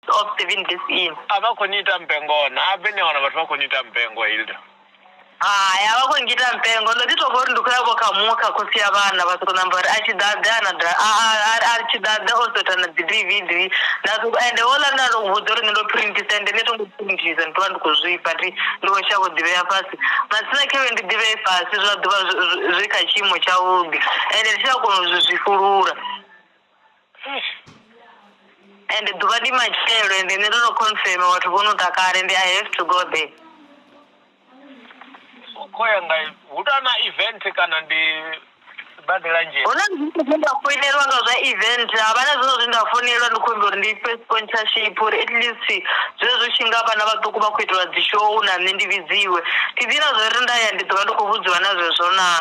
of the wind is in a vha khou ni ita mpengo na a bve ni a wana vhathu vha khou ni ita mpengo hilda hai a vha khou ngita mpengo ndo ḓi tou vha uri ndi khou ya vho kha muṅwe kha khosi ya vhana vha sokou namba uri a tshi ḓaḓe ana da- a- a- a- a tshi ḓaḓe o sota na dzi dvd nda sokou- ende houḽa nda ndo vhudza uri nṋe ndo printisa ende nṋe thongo printisa ndi tovha ndi khou zwifha ndi ndi khou shavha u ḓivhea fhasi masina khevhe ndi ḓivhee fhasi zwa ḓuvha zwi- zwi- zwi kha tshiimo tshavhuḓi ende ndi tshi a kona u zwi zwifulula Ende ḓuvha ndi matshelo ende nṋe ndo no confirmer vhathu vho no ḓa kale ende I have to go there. U khou ya nga hu tou na event kana ndi sibadela nzhele? Hu na zwithu zwe nda foinelwa nga zwa event ha vha na zwiṅwe zwe nda founelwa ndi khou humbela uri ndi fhe sponsorship uri at least zwezwi tshi nga vhana vhaṱuku vha khou itelwa dzi show na nṋe ndi vhidziwe. Thi ḓivhi na zwo ri nda ya ndi ḓo vha ndi khou vhudziwa na zwezwo naa.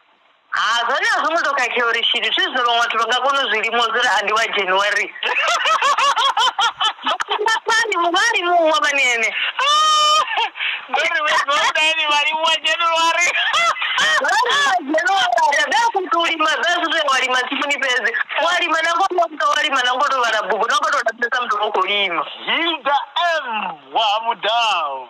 Ha, zwone a zwo ngo tou khakhea uri tshithu thi zwine vhaṅwe vhathu vha nga kona u zwi limusa uri a ndi wa January. Vhafhani muvhali muṅwe vhani ene. Ndo ri vhe ndo dani vha limuwa January. Lima dza zwithu wa lima tsimuni fhedzi wa lima na ngoto wa lima na ngoto vhala bugu na ngoto lapisa muthu o khou lima Hilda M wa ha mudau